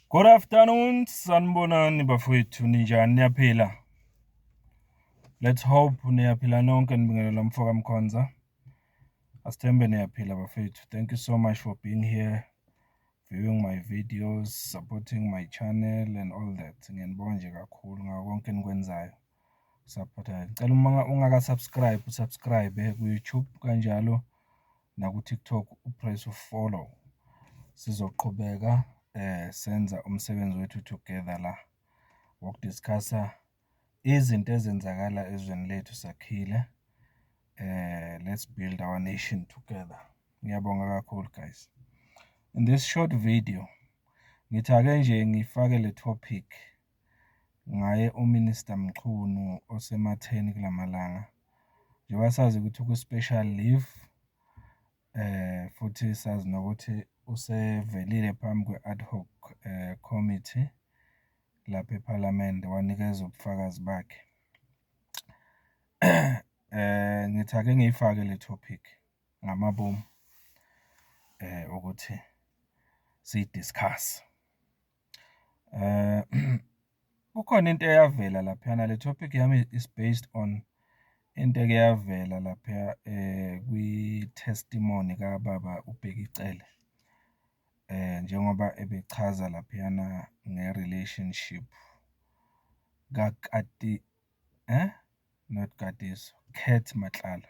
Good afternoon, sanibonani bafowethu ninjani niyaphila? Let's hope niyaphila nonke nibingelela mfoka Mkhonza. Asithembe niyaphila bafowethu. Thank you so much for being here, viewing my videos, supporting my channel and all that. Ngiyanibonga nje kakhulu ngako konke enikwenzayo. usaphothayo. Ngicela uma ungaka-subscribe u-subscribe ku-YouTube kanjalo naku-TikTok u-press u-follow. Sizoqhubeka eh senza umsebenzi wethu together la wokudiscussa izinto ezenzakala ezweni lethu sakhile. Eh let's build our nation together. Ngiyabonga kakhulu guys. In this short video ngithake nje ngifake le topic ngaye uMinister Mchunu osematheni kulamalanga njengoba sazi ukuthi ku special leave futhi sazi nokuthi usevelile phambi kwe ad hoc committee lapha ePhalamende wanikeza ubufakazi bakhe. Eh ngithi ake ngiyifake le topic ngamabomu ukuthi siyi discuss. Kukhona into eyavela laphayana, le topic yami is based on into eke yavela laphaya kwi-testimony kababa uBheki Cele, njengoba ebechaza laphayana nge-relationship not Katiso, Kurt Matlala.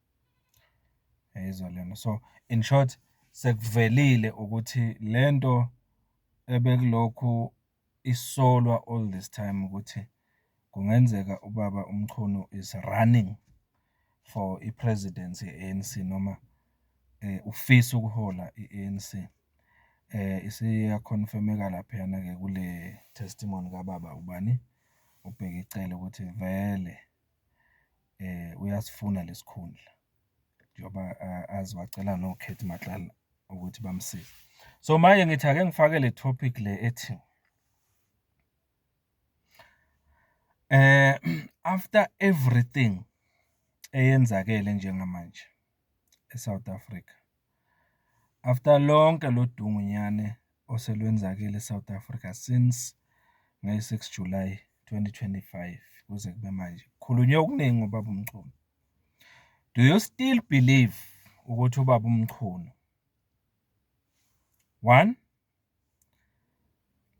Uyayizwa lento? So, in short sekuvelile ukuthi le nto ebekulokhu isolwa all this time ukuthi kungenzeka ubaba uMchunu is running for i-presidency ye-A_N_C noma ufisa ukuhola i-A_N_C. Isiyakhonfemeka laphayana-ke kule-testimony kababa ubani, uBheki Cele ukuthi vele. uyasifuna lesikhundla njengoba azi wacela noKhethi Matlala ukuthi bamsize. So manje ngithi ake ngifake le topic le ethi after everything eyenzakele njengamanje. eSouth Africa. After lonke lodungu nyane oselwenzakele eSouth Africa since ngayi six July twenty twenty five kuze kube manje khulunywe okuningi ngobaba uMchunu. Do you still believe ukuthi ubaba uMchunu one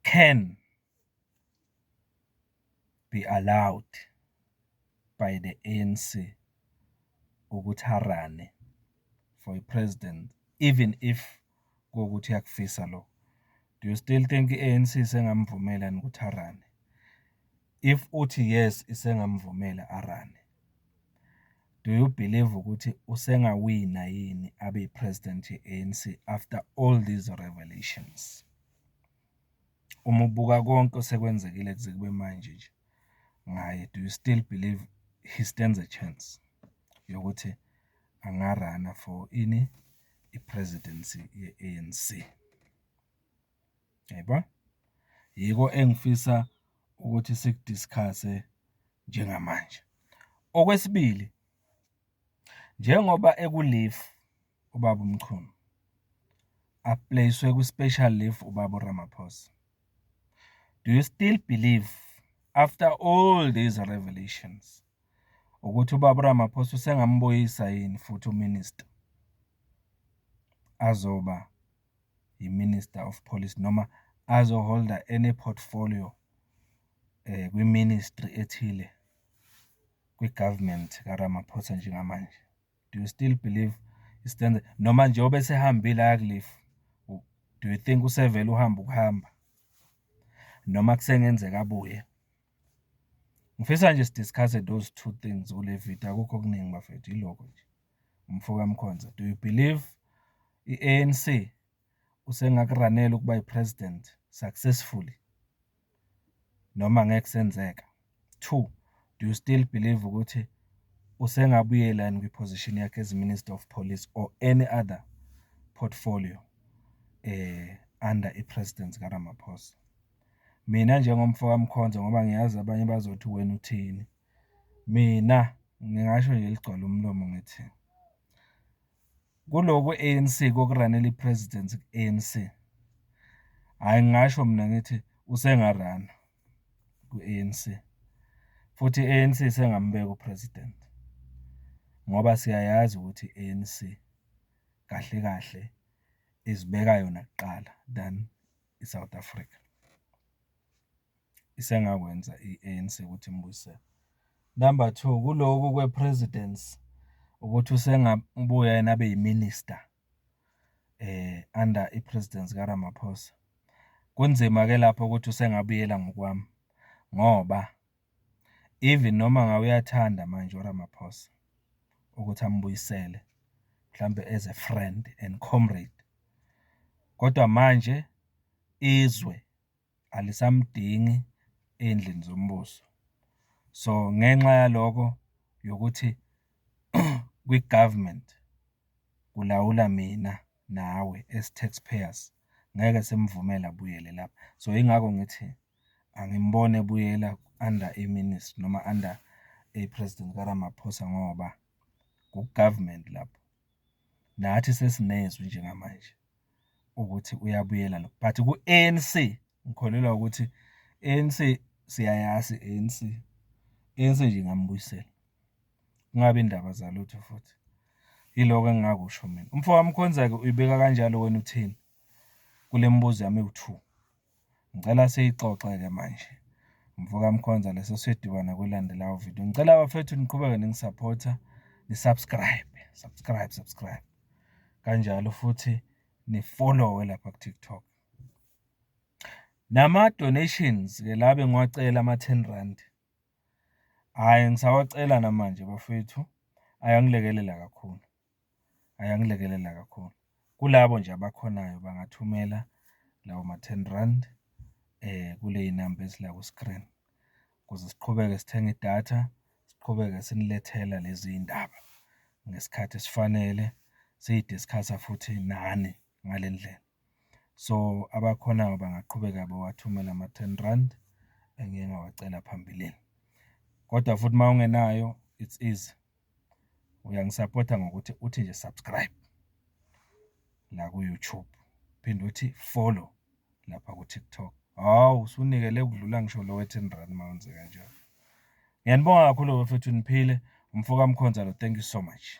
can be allowed by the ANC ukuthi arane for a president even if kokuthi yakufisa lo do you still think i-ANC sengamvumela ukuthi arane if uthi yes isengamvumela arane Do you believe ukuthi usengawina yini abe president ye-A_N_C after all these revelations? Uma ubuka konke osekwenzekile kuze kube manje nje ngaye, do you still believe he stands a chance yokuthi anga-run-a for ini, i-presidency ye-A_N_C? Yebo, yiko engifisa ukuthi siku-discuss-e njengamanje. Okwesibili, njengoba eku-leave ubaba uMchunu, a-place-we kwi-special leave ubaba uRamaphosa, do you still believe after all these revelations ukuthi ubaba uRamaphosa usengamubuyisa yini futhi uMinister azoba yiMinister of Police noma azoholda any portfolio kwi-ministry ethile kwi-government kaRamaphosa njengamanje. Do you still believe iStanza noma njengoba esehambile aya ku-leave, do you think usevele uhamba ukuhamba noma kusengenzeka abuye? Ngifisa nje si-discuss-e those two things kule video, akukho okuningi bafethu, yilokho nje. mfoka Mkhonza do you believe i-ANC usengakuranela ukuba i-president successfully noma ngeke kusenzeka? Two, do you still believe ukuthi usengabuyela yini kwi-position yakhe as Minister of Police or any other portfolio eh under i-president kaRamaphosa? Mina njengomfoka Mkhonza ngoba ngiyazi abanye bazothi wena uthini. Mina ngingasho nje eligcwala umlomo ngithi kuloku kwe-A_N_C kokuranela i-president ku-A_N_C, hhayi ngingasho mina ngithi usengarana kwi-A_N_C futhi i-A_N_C isengamubeka u-president ngoba siyayazi ukuthi i-A_N_C kahle kahle izibeka yona kuqala than i-South Africa. isengakwenza i-ANC ukuthi imbuyisele. Number two, kuloku kwe-presidence ukuthi usengabuya yena abe yiminister eh under i-presidence kaRamaphosa. Kunzima ke lapho ukuthi usengabuyela ngokwami ngoba even noma ngabe uyathanda manje uRamaphosa ukuthi ambuyisele mhlambe as a friend and comrade kodwa manje izwe alisamdingi endlini zombuso. So ngenxa yaloko yokuthi kwi-government kulawula mina nawe as taxpayers ngeke simvumele abuyele lapha. So yingakho ngithi angimboni ebuyela under i-ministry noma under i-president kaRamaphosa ngoba ku-government lapho. Nathi sesinezwi njengamanje ukuthi uyabuyela lo but ku-ANC ngikholelwa ukuthi ANC siyayazi ANC. ANC nje ingambuyisela. Kungabi indaba zalutho futhi. Yiloko engingakusho mina. Umfowami Khonza-ke uyibeka kanjalo wena uthini? Kule mibuzo yami ewu-two. Ngicela siyixoxe-ke manje mfoka Mkhonza leso siyoduba nakulandelayo video. Ngicela bafethu niqhubeke ningisupporter, ni-subscribe, subscribe, subscribe. Kanjalo futhi nifollowe lapha ku-TikTok. Nama donations ke labe ngiwacela ama 10 rand. Hayi ngisawacela namanje bafethu. Ayangilekelela kakhulu. ayangilekelela kakhulu. Kulabo nje abakhonayo bangathumela lawo ma-ten rand kuley'namba ezila ku-screen ukuze siqhubeke sithenga idatha, siqhubeke sinilethela lezi ndaba ngesikhathi esifanele, siyi-discuss-a futhi nani. ngale ndlela. So abakhonayo bangaqhubeka bawathumele ama-ten rand engiye ngawacela phambilini. Kodwa futhi uma ungenayo it's easy, uyangisapotha ngokuthi uthi nje subscribe la ku-YouTube, phinde uthi follow lapha ku-TikTok. Hawu usunikele ukudlula ngisho lo we-ten rand uma wenze kanjalo. Ngiyanibonga kakhulu bafethu niphile. Umfoka Mkhonzalo, thank you so much.